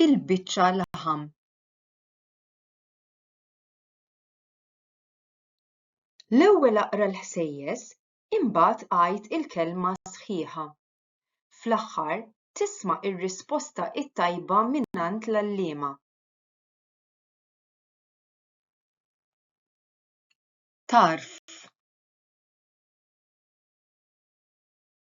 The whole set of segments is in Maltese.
il-biċċa laħam. L-ewwel aqra l-ħsejjes, imbagħad għid il-kelma sħiħa. Fl-aħħar tisma' ir-risposta t-tajba mingħand l-għalliema. Tarf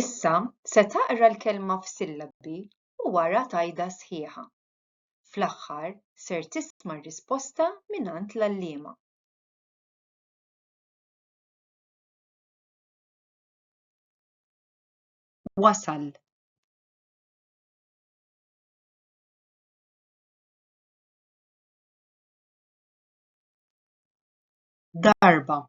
Issa se taqra l-kelma f'sillabi u wara tgħidha sħiħa. Fl-aħħar ser tisma' r-risposta mingħand l-għalliema. wasal darba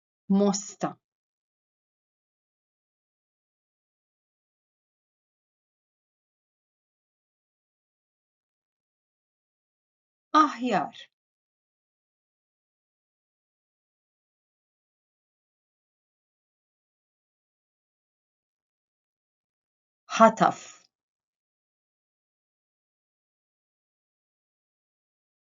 mosta. Aħjar. ħataf.